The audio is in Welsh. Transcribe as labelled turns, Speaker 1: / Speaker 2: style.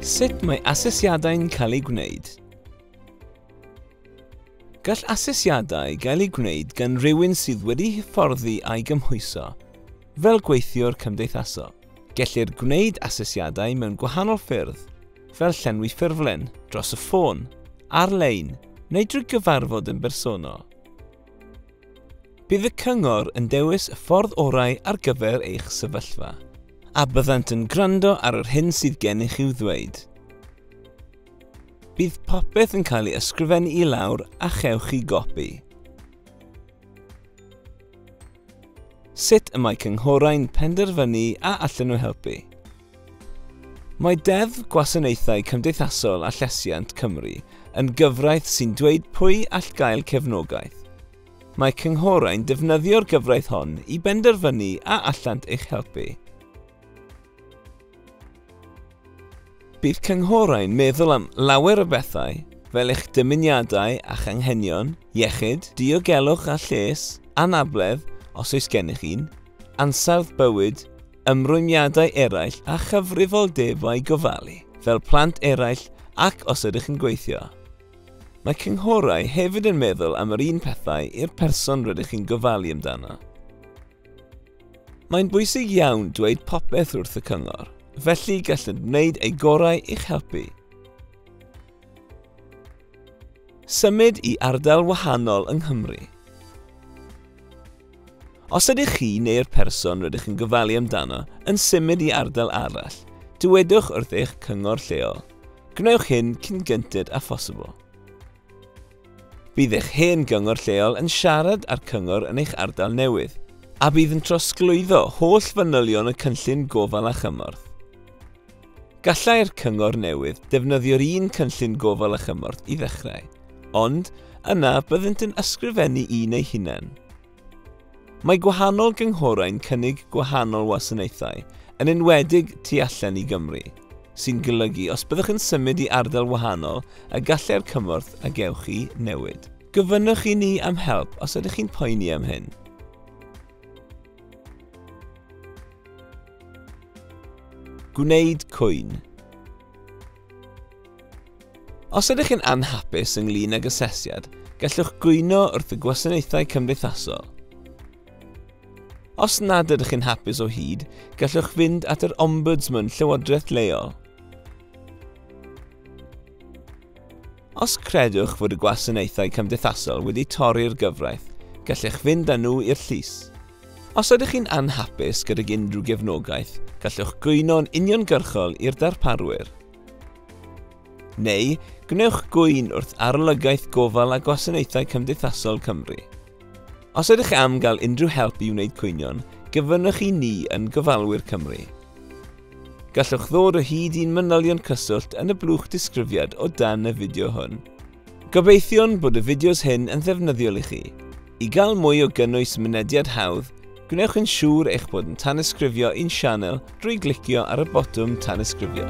Speaker 1: Sut mae asesiadau'n cael eu gwneud? Gall asesiadau gael eu gwneud gan rywun sydd wedi hyfforddi a'i gymhwyso, fel gweithiwr cymdeithasol. Gellir gwneud asesiadau mewn gwahanol ffyrdd, fel llenwi ffurflen dros y ffôn, ar-lein neu drwy gyfarfod yn bersonol. Bydd y cyngor yn dewis y ffordd orau ar gyfer eich sefyllfa, a byddant yn gwrando ar yr hyn sydd gennych i'w ddweud. Bydd popeth yn cael ei ysgrifennu i lawr a chewch chi gopi. Sut y mae cynghorau'n penderfynu a allan nhw helpu? Mae Deddf Gwasanaethau Cymdeithasol a Llesiant Cymru yn gyfraith sy'n dweud pwy all gael cefnogaeth. Mae cynghorau'n defnyddio'r gyfraith hon i benderfynu a allant eich helpu. Bydd cynghorau'n meddwl am lawer o bethau, fel eich dymuniadau a'ch anghenion, iechyd, diogelwch a lles, anabledd, os oes gennych un, ansawdd bywyd, ymrwymiadau eraill a chyfrifoldebau gofalu fel plant eraill ac os ydych yn gweithio. Mae cynghorau hefyd yn meddwl am yr un pethau i'r person rydych chi'n gofalu amdano. Mae'n bwysig iawn dweud popeth wrth y cyngor, felly gallent wneud eu gorau i'ch helpu. Symud i ardal wahanol yng Nghymru. Os ydych chi neu'r person rydych yn gofalu amdano yn symud i ardal arall, dywedwch wrth eich cyngor lleol. Gwnewch hyn cyn gynted â phosibl. Bydd eich hen gyngor lleol yn siarad â'r cyngor yn eich ardal newydd, a bydd yn trosglwyddo holl fanylion y cynllun gofal a chymorth. Gallai'r cyngor newydd ddefnyddio'r un cynllun gofal a chymorth i ddechrau, ond yna byddent yn ysgrifennu un eu hunain. Mae gwahanol gynghorau'n cynnig gwahanol wasanaethau, yn enwedig tu allan i Gymru, sy'n golygu os byddwch yn symud i ardal wahanol y gallai'r cymorth a gewch chi newid. Gofynnwch i ni am help os ydych chi'n poeni am hyn. Gwneud cwyn. Os ydych chi'n anhapus ynglyn ag asesiad, gallwch gwyno wrth y gwasanaethau cymdeithasol. Os nad ydych chi'n hapus o hyd, gallwch fynd at yr Ombudsman Llywodraeth Leol. Os credwch fod y gwasanaethau cymdeithasol wedi torri'r gyfraith, gallech fynd â nhw i'r llys. Os ydych chi'n anhapus gydag unrhyw gefnogaeth, gallwch gwyno'n uniongyrchol i'r darparwyr. Neu, gwnewch gŵyn wrth Arolygaeth Gofal a Gwasanaethau Cymdeithasol Cymru. Os ydych am gael unrhyw help i wneud cwynion, gyfynnwch i ni yn Gofalwyr Cymru. Gallwch ddod o hyd i'n manylion cyswllt yn y blwch disgrifiad o dan y fideo hwn. Gobeithiwn bod y fideos hyn yn ddefnyddiol i chi. I gael mwy o gynnwys mynediad hawdd, gwnewch yn siŵr eich bod yn tanysgrifio i'n sianel drwy glicio ar y botwm tanysgrifio.